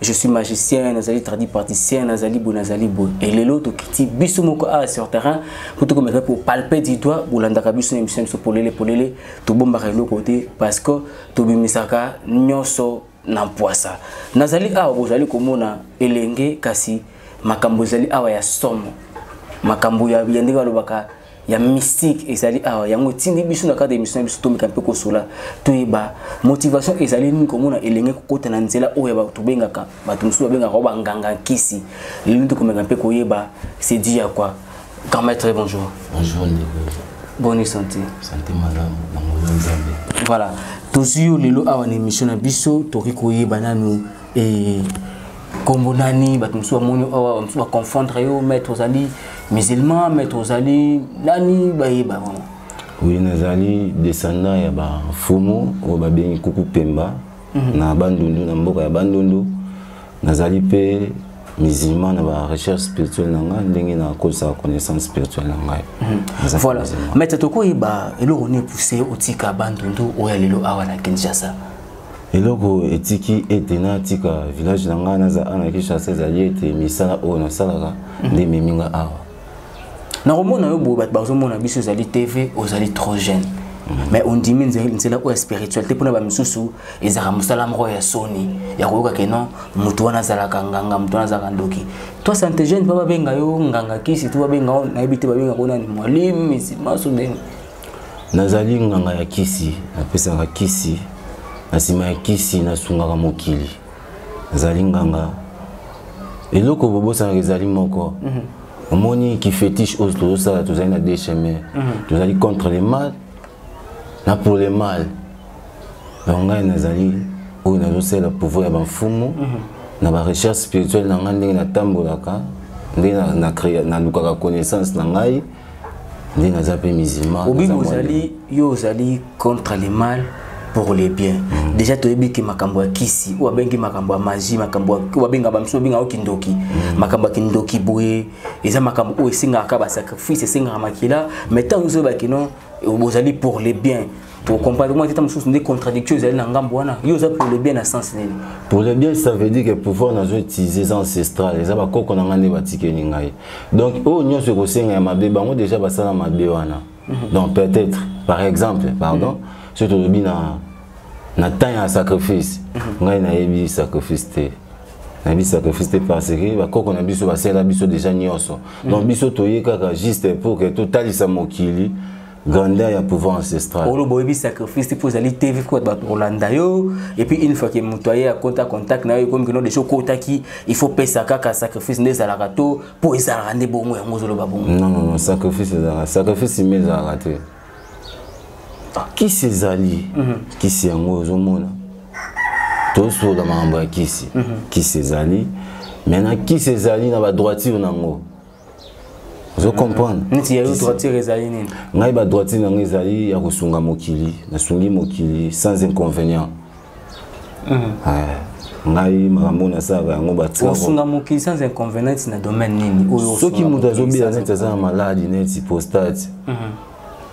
je suis magicien nazali tradi praticien nazali boye nazali boye e lelo tokiti biso moko awa sur terrain mpo tokomeka kopalpe du doigt bolandaka biso na émission biso polele polele tobombaka eloko te parce que tobimisaka nyonso na mpwasa nazali awa bozali komona elenge kasi makambo ezali awa ya somo makambo ya ndenge balobaka ya mystique ezali awa yango etindi biso na kati ya émission na biso tomeka mpe kosola toyeba motivation ezali nini komona elenge kokota na nzela oyo ya bato tobengaka bato mosusu babengaka o banganga nkisi lelo tokomeka mpe koyeba c'est dit ya quoi grand maître bonjour bonjour ndeko boni santé santé malamu na moyo nzambe voilà tozwi yo lelo awa na émission na biso tokoki koyeba nanu eh, kombo nani bato mosusu bamoni awa bamosusu baconfondre yo maître ozali musulman maître ozali nani bayeba vraiment oui nazali descendant ya bafumu oyo babengi kuku pemba mm -hmm. na bandundu na mboka ya bandundu nazali mpe musulman na ba recherche spirituelle na ngai ndenge nakozala connaissance spirituelle na ngai mhm. voilà maître tokoyeba eloko nini pousse otika bandundu oyo ya lelo awa na kinshasa eloko etiki ete natika village na ngai naza ana kinshasa ezali ete misala oyo nasalaka mhm. nde ememi ngai awa nakomona yo boye bato bazomona biso ozali tv ozali trop jeune mhm. mais ondimi nzela oyo ya spiritualité mpona bamisusu ezalaka mosala moko ya soni ya koyoka ke non moto wana azalaka nganga moto wana azalaka ndoki to sante jeune mpo babenga yo nganga kisi to babenga yo nayebi te babenga ko nani mwalimu misimaso ndenge nazali nganga ya kisi napesaka kisi na nsima ya kisi nasungaka mokili nazali nganga eloko bobosanaka ezali moko mm -hmm. omoni kifetiche oyo tozosala tozali na deux chemin mm -hmm. tozali contre le mal na pour le mal donc ngai nazali oyo nazosala pouvoir ya bamfumu mm -hmm. na barecherche spirituelle na ngai ndenge natambolaka ndenge nalukaka na, na connaissance na ngai nde naza mpe musulman obibi ozali yo ozali contre le mal pour le bien mm. déjà toyebi ke makambo ya kisi oyo abengi makambo ya magie makambo oyo babenga bamisu babengaka kindoki mm. makambo ya kindoki boye eza makambo oyo esengaka kaka basacrifice esengaka makila mais ntango nyonso oyebaki no bozali pour le bien po comportement tata mosusu nde contradiction ezali na ngambo wana yo oza pour le bien na sens nini pour le bien ça veut dire que pouvoir nazo utiliser eza ancestral eza bakoko na ngai nde batikeli ngai donc oyo oh, nyonso ekosenga ya mabe bango déjà basala mabe wana mhm. donc peut-être par exemple pardon mhm. soki tolobi na na temps ya sacrifice mhm. ngai nayebi sacrifice te na biso sacrifice te parce que bakoko na biso basala biso déjà nyonso donc biso toye kaka juste pour que totalisa mokili grandeur ya pouvoir ancestral oloba oyebi sacrifice mpo ozali te vi mpo bato kolanda yo epuis une fois ke moto aye akota contact na yo ekomi kino deja okotaki il faut pesa kaka sacrifice nde ezalaka to mpo ezalaka nde bongo yango ozoloba bongo non non non sacrifice ezalaka sacrifice ime ezalaka te ah, kisi ezali mhm. kisi yango ozomona tosola makambo ya kisi mhm. kisi ezali maintenant kisi ezali na badroiture na yango ozo comprendre neti ya yo droitier ezali nini ngai ba droitier na ngai ezali ya kosunga mokili nasungi mokili sans inconvénient mm. ngai makambo nasalaka yango batiosunga mokili sans inconvénient neti na domaine nini oyo soki moto azobela neti aza na maladi neti prostate mhm.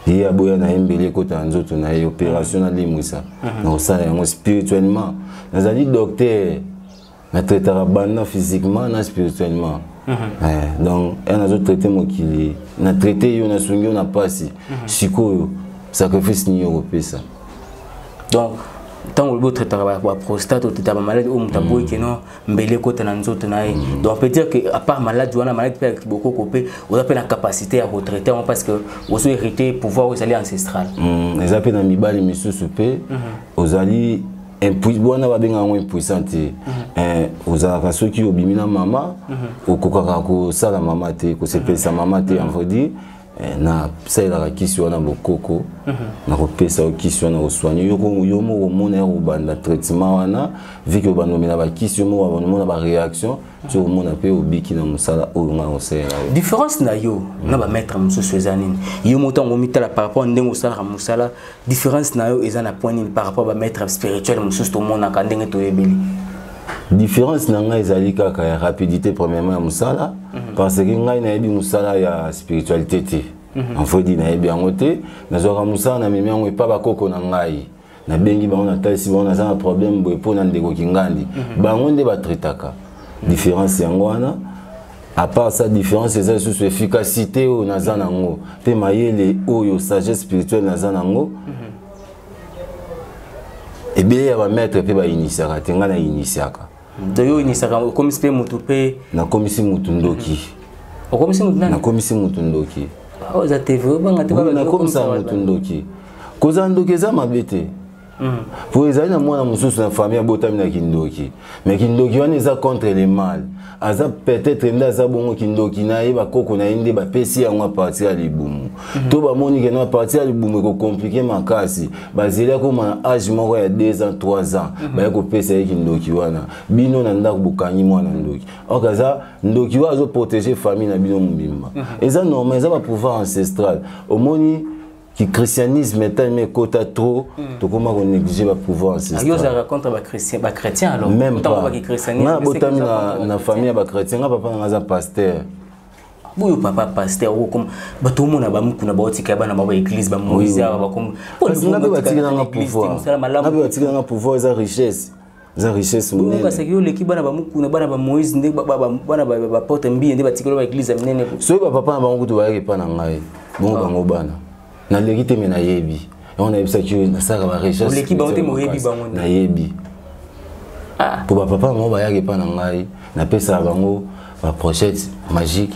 ye aboya na ye mbeli ekota na nzoto na ye opération mhm. nalimwisa mhm. nakosala yango spirituellement nazali docteur na traitaka banda physiquement na spirituellement mhm. eh, donc un azo traite mokili na traite yo nasungi yo na mpasi mhm. sikoyo sacrifice nini okopesa donc ntango olobi otraitaka baprostate otraitaka bamaladi oyo moto aboyi keno mbele ekota na nzoto na ye mm. donc peut dire que apart maladi wana maladi mpe ya kibokoko mpe oza mpe na capacité ya kotraite yango parce que ozo hérité pouvoir oyo ezali ancestral mm, eza mpe na mibali misusu mpe mhm. ozali wana babenga yango impuissant te mm-hmm. eh, ozalaka soki obimi na mama mm-hmm. okokaka kosala mama te kosepelisa mm-hmm. mama te envodi eh, nasalelaka kisi wana bokoko nakopesa yo kisi wana koswani yo moko omona ya kobanda traitement wana vike obanda omela bakisi yo moko omona baréaction ti omona mpe obiki na mosala oyo ngai osalela yo différence na yo na bamaître mosusu eza nini yo moto yango omitala par rapport ndenge osalaka mosala différence na yo eza na point nini par rapport ba maître spirituel mosusu tomonaka ndenge toyebeli différence na ngai ezali kaka ya rapidité premièrement ya mosala mm -hmm. parce que ngai nayebi mosala ya spiritualité te mm -hmm. enfodi nayebi yango te nazwaka mosala na memi yango epa bakoko na ngai nabengi bango natalisi bango naza na problème boye mpo na ndeko kingandi mm -hmm. bango nde batraitaka mm -hmm. différence yango wana à part sa différence eza lisusu efficacité oyo naza nango mpe mayele oyo sagesse spirituelle naza nango mhm. ebele ya bamaître mpe bainitiaka te ngai nainitiaka donc yo oinitiaka okomisi mpe motu mpe nakomisi motu ndoki mhm. okomisi motu nani nakomisi motu ndoki ah, oza te obanga te nakomisa motu ndoki kozala ndoki eza mabe te Mm. po ezali na mwana mosusu na famille abotami na kindoki me kindoki wana eza contre le mal aza peut-être nde aza bongo kindoki na ye bakoko na ye nde bapesi yango apartir ya libumu mm -hmm. to bamoni keno apartir ya libumu ekokomplike makasi bazeli akoma na age moko ya 2 ans 3 ans mm -hmm. baye kopesa ye kindoki wana bino na ndako bokangi mwana ndoki ok aza ndoki oyo azoprotege famille na bino mobimba mm -hmm. eza normal eza bapouvoir ancestral omoni ki christianisme etalemi ekota trop mm. tokoma ko négliger ba pouvoir ah, ancestral yo ozalaka contre ba christian ba chrétien alors même pas ba christianisme na botami na na famille ya ba chrétien nga papa nga aza pasteur boyo papa pasteur okoma bato omona bamikuna baotika ya bana ba baeglise bamoise awa bakomabatikilanga pouvoir eza richesse eza richesse monene kasi yo leki bana ba mukuna bana ba Moïse nde bana ba porte mbiye nde batikela ba église ya minene soki ba papa na bango kutu bayaki epa na ngai bongo ah. bango bana naleki te me nayebi yango nayebisaki yo nasalaka ba richesse bango te moyebi bango nayebi ah. po ba papa na bango bayaki epa na ngai napesaka bango baprochette magique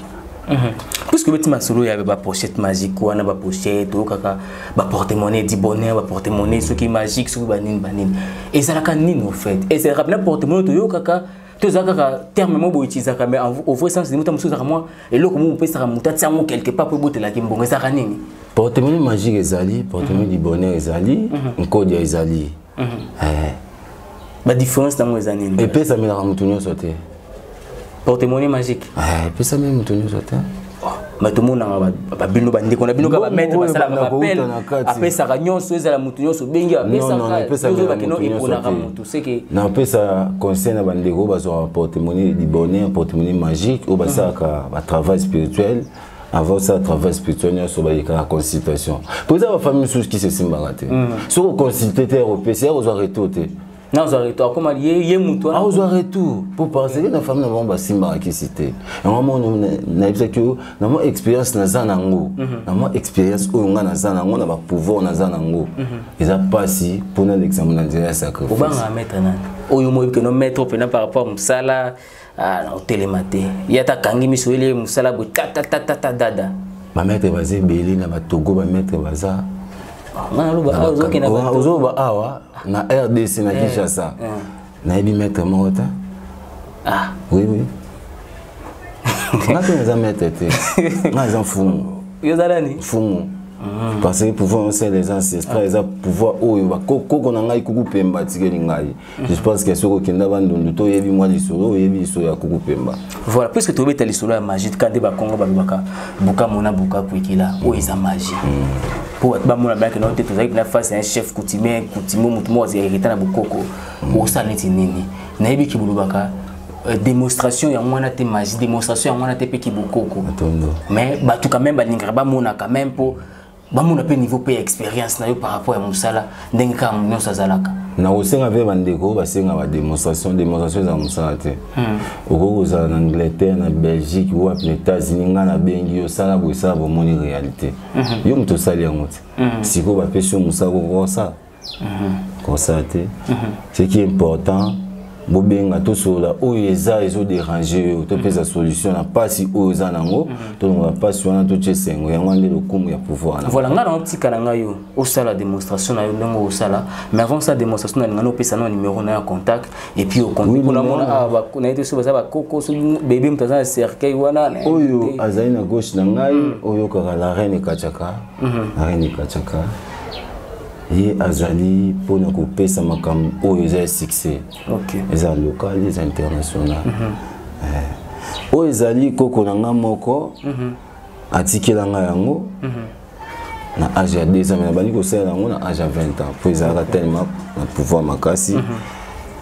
mhm. puisque obeti masolo ya baprochette magique wana baprochette oyokaka baportemonnaie di bonheur baportemonnaie soki magique soki banini banini ezalaka nini au fait ezalaka mpena portemonnaie toyokaka toza kaka terme moko boye utilisaka mais au vrai sens limuta mosusu ezalaka mwa eloko moko opesaka moto atia yango quelque part mpo ebotelaki mbongo ezalaka nini portemoni magique ezali portemoni du bonheur ezali mhm. nkodia ezali eh. badifference nango eza nini epesamelaka motu nyonso te portemone magique eh, epesameli motu nyonso te bato monaka babino bandeko na bino kaka bamaître basalaka bapele apesaka nyonso ezala motu nyonso obengi apesakaoyebakino eponaka motu seke napesa conseil na bandeko oyo bazwaka portemone du bonheur portemone magique oyo basalaka batravail spirituel avant ça travail spirituel nyonso bayekaka consultation mpo eza bafamille mosusu kisi esimbaka te mm. soki oconsulte te opesi ya kozwa retour te nazwa retour akoma ye, ye motu wana akozwa retour mpo parceke na famille na bango basimbaka kisi te yango mono nayebisaki yo na mwa expérience naza na yango mhm. na mwa expérience oyo ngai naza na yango na bapouvoir naza na yango mhm. eza mpasi mpo na l'examen na nzela ya sacrifice obanga maître nani oyo moyebi keno maître mpena par rapport mosala ah na otelema te ye ata akangi miso ele mosala boye tatatata dada bamaître baza ebele na batogo bamaître baza ozoloba awa na rdc na eh, kinshasa eh. nayebi maître moko ta ah. oui oui nga mpe naza maître te nga eza mfumu yo oza nani mfumu Mm. parce que pouvoir osala eza ancestral eza pouvoir oyo bakoko na ngai kuku mpe mbatikeli ngai je pense que soki okenda bandundu to oyebi mwa lisolo oyebi lisolo ya kuku pemba voilà puisque tobeta lisolo ya magie tika nde bakongo balobaka bukamo na buka kuikila oyo eza magie mpo bato bamona bayake nao te tozalaki na face ya chef coutumier coutumier motu moko azali hérita na bokoko okosala neti nini nayebi ki bolobaka Euh, démonstration ya mwana te magie démonstration ya mwana te mpe kibokoko mais bato quand même balingaka bamona quand même mpo bamona mpe niveau mpe ya expérience na yo par rapport ya mosala ndenge kaka nyonso azalaka na kosenga mpe bandeko basenga bademonstration demonstration eza mosala te hmm. okoki kozala na angleterre na belgique wapi na états-unis ngai nabengi yo sala boye sala bomoni réalité hmm. yo moto osali yango te hmm. sikoyo bapesi yo mosala kokosala constate ce qui est important bobenga tosolola oyo eza ezoderange yo topesa mhm. solution na mpasi oyo eza nango mhm. tolongola mpasi wana totya esengo yango wana nde lokumu ya pouvoir na voilà ngai naotika na ngai yo osala démonstration na yo ndenge osala mais avant sa démonstration na lingani opesa na numéro na ya contact et puis okonpona mona awa na ye te soki baza bakoko soki bebe moto aza na cercueil wana oyo azali na gauche na ngai mm. oyokaka la reine ekatiaka mhm. arene kachaka ye azali mpona kopesa makambo oyo eza ya succès eza local eza international mhm. eh. oyo ezali koko na ngai moko mhm. atikela ngai yango na age ya 2 ans me nabandi kosalela yango na age ya 20 ans mpo ezalaka tellement na pouvoir makasi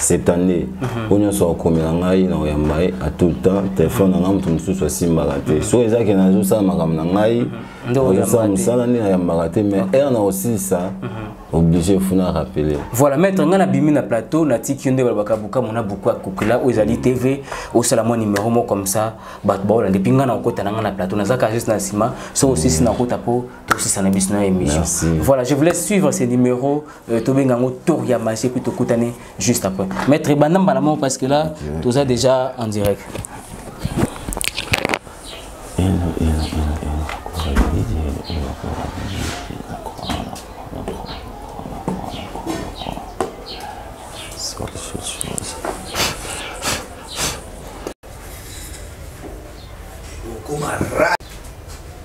septande mhm. oyo nyonso akomela ngai na koyamba ye a tout le temps telefone na ngai moto mosusu asimbaka te mhm. soki ezalaki nazosala makambo na ngai mhm. azosala mosala nde nayambaka te mais heure na kosilisa obligé funa rappeler voilà maître ngai nabimi na plateau natiki yo nde balobaka bukamu na buku akokela oyo ezali tv osala mwa numero moko comme ça bato baola nde mpi ngai nakokota na ngai na plateau nazalaka juste na nsima soki osisi nakota mpo tosisa na biso na émission voilà je vous laisse suivre ces numéros Euh, tobenga yango tour ya magie puis tokutani juste après maître banda mbala moko parce que là okay. toza déjà en direct Kumara.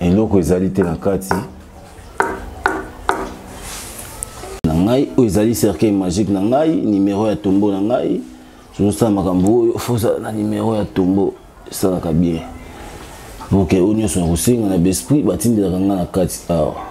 eloko ezali te na kati na ngai oyo ezali cercueil magique na ngai nimero ya tombo na ngai tozosala makambo oyo fozala na nimero ya tombo esalaka bien boke oyo nyonso na kosenga na besprit batindelaka ngai na kati awa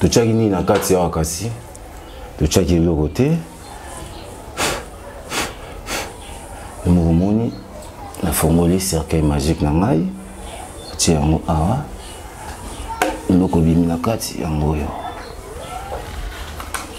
totyaki nini na kati awa kasi totyaki eloko te mokomoni nafongoli cercueil magique na ngai atie yango awa eloko ebimi na kati yango oyo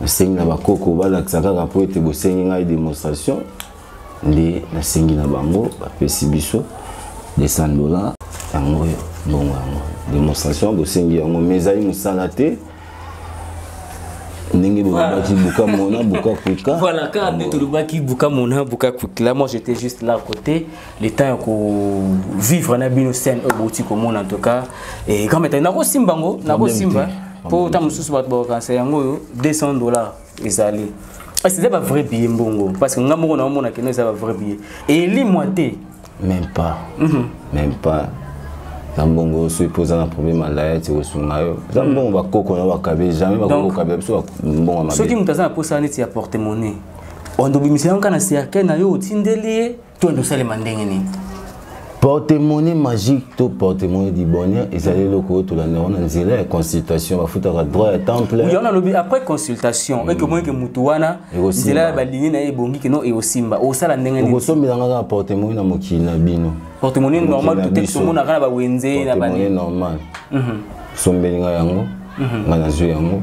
nasengi na bakoko balakisa kaka mpo ete bosengi ngai demonstration nde nasengi na bango bapesi biso 200 dollars yango oyo mbongo yango demonstration bosengi yango mais ezali mosala te ndenge bolobaki buka mona buka kuika voilà kaka nde tolobaki buka mona buka kuika là moi j'étais juste là côté le temps ya kovivre na bino scène oyo bouti komona en tout cas et grand maître nakosimba yango nakosimba mpo ntango mosusu bato bakokanisa yango oyo 200 dollars ezali kasi eza bavrai billet mbongo parce que nga moko naomona keno eza bavrai billet elimwa te même pas mhm. même pas na mbongo oyo soki mpo oza na problème ya laya ti kosunga yo eza mhm. mbongo bakoko na bakabe jamais bakokokabela biso mbongo mabe soki moto aza na mposa neti ya porte monnaie ondobimisa yango kaka na cercueil na yo otindeli ye to ende osalema ndenge nini portemone magique to portemone du bonheur ezali eloko oyo tolanda yango na nzela ya consultation bafutaka droit ya temple yango nalobi après consultation mm. eke omonike motu wana nzela ya balingi na ye ebongi kino ekosimba osala ndenge nini okosombela nga kaka portemone na mokili na bino portemone normal tote tomonaka na bawenze na bane normal mhm. sombeli nga yango mhm. nga nazwi yango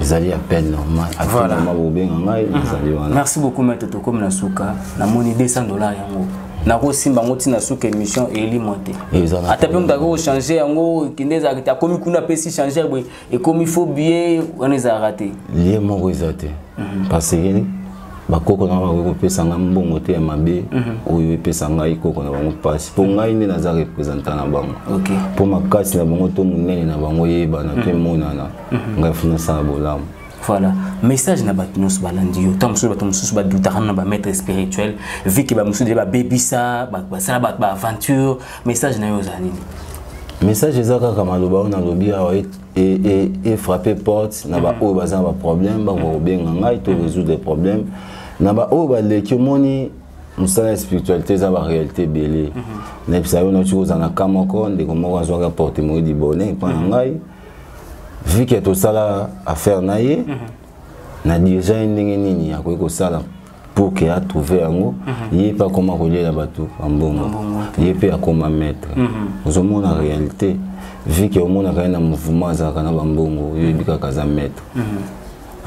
ezali ya peine normal voilà. bobenga ngai mhm. nazali wana merci beaucoup maître tokomi na suka namoni 200 dollars yango nakosimba yango ntina suka émission elimwa te ata mpe moto akoki kochange yango kende ezalaka te akomi kuna mpe si change boye ekomi fo biye wana ezalaka te lie moko eza te mhm. parce que bakoko na bango bakoki kopesa ngai mbongo te ya mabe mhm. oyo epesa ngai koko na bango mpasi mpo ngai nde naza representant na bango mpo makasi na bango to monene na bango eyebana to mhm. emonana mhm. ngai funa sala bolamu voilà message na bato nyonso balandi yo ntango mosusu bato mosusu badutaka na bamaître spirituel vi ke bamosusu de babebisa basala bato baaventure message na yo eza nini message eza kaka maloba oyo nalobi awa efrappe e, e, e porte na baoyo mhm. baza na baproblème bakoka mhm. kobenga ngai to mhm. résoudre problème na baoyo baleki omoni mosala ya spiritualité eza baréalité ebele nayebisa yo nauti kozala na ka moko ndeko moko azwaka porte moyi libone epai na ngai vu que tosala affaire na ye mhm. na dirige ye ndenge nini akoki kosala pour que atrouve yango mhm. ye mpe akoma kolyela bato bambongo ye mpe akoma maître mhm. ozomona réalité vu que omonaka ye na mouvement azalaka na bambongo yo oyebi kaka aza maître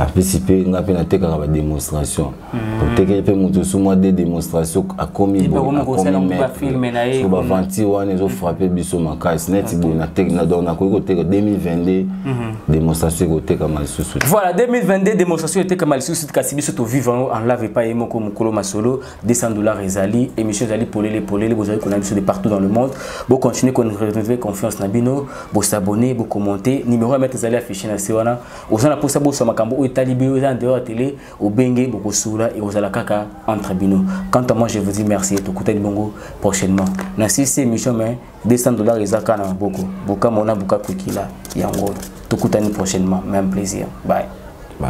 apesi mpe ngai mpe natekaka bademonstration mm. otekeli mpe moto osu mwa de demonstration akomi boyeakomiso baventure wana ezofrappe biso makasi neti boye donc nakoki koteka 2022 mhm. demonstration ekotekama lisusu voilà 2022 demonstration etekama lisusu kasi biso tovive yango en lave epai ye moko mokolo masolo 200 dollars ezali émission ezali polele polele bozali kolanda biso de partout dans le monde bocontinue korenouveler confiance na bino bosabonne bocommente numéro ya mete ezali affiché na se wana oza na posa boswa makambo oyo etali bino eza na dehors ya tele obenge bokosula ekozala kaka entre bino quant à moi je vous dis merci tokutani bongo prochainement na sisi émission mais 200 dollars eza kaka na maboko bokama ona boka kokila yango tokutani prochainement même plaisir bye bye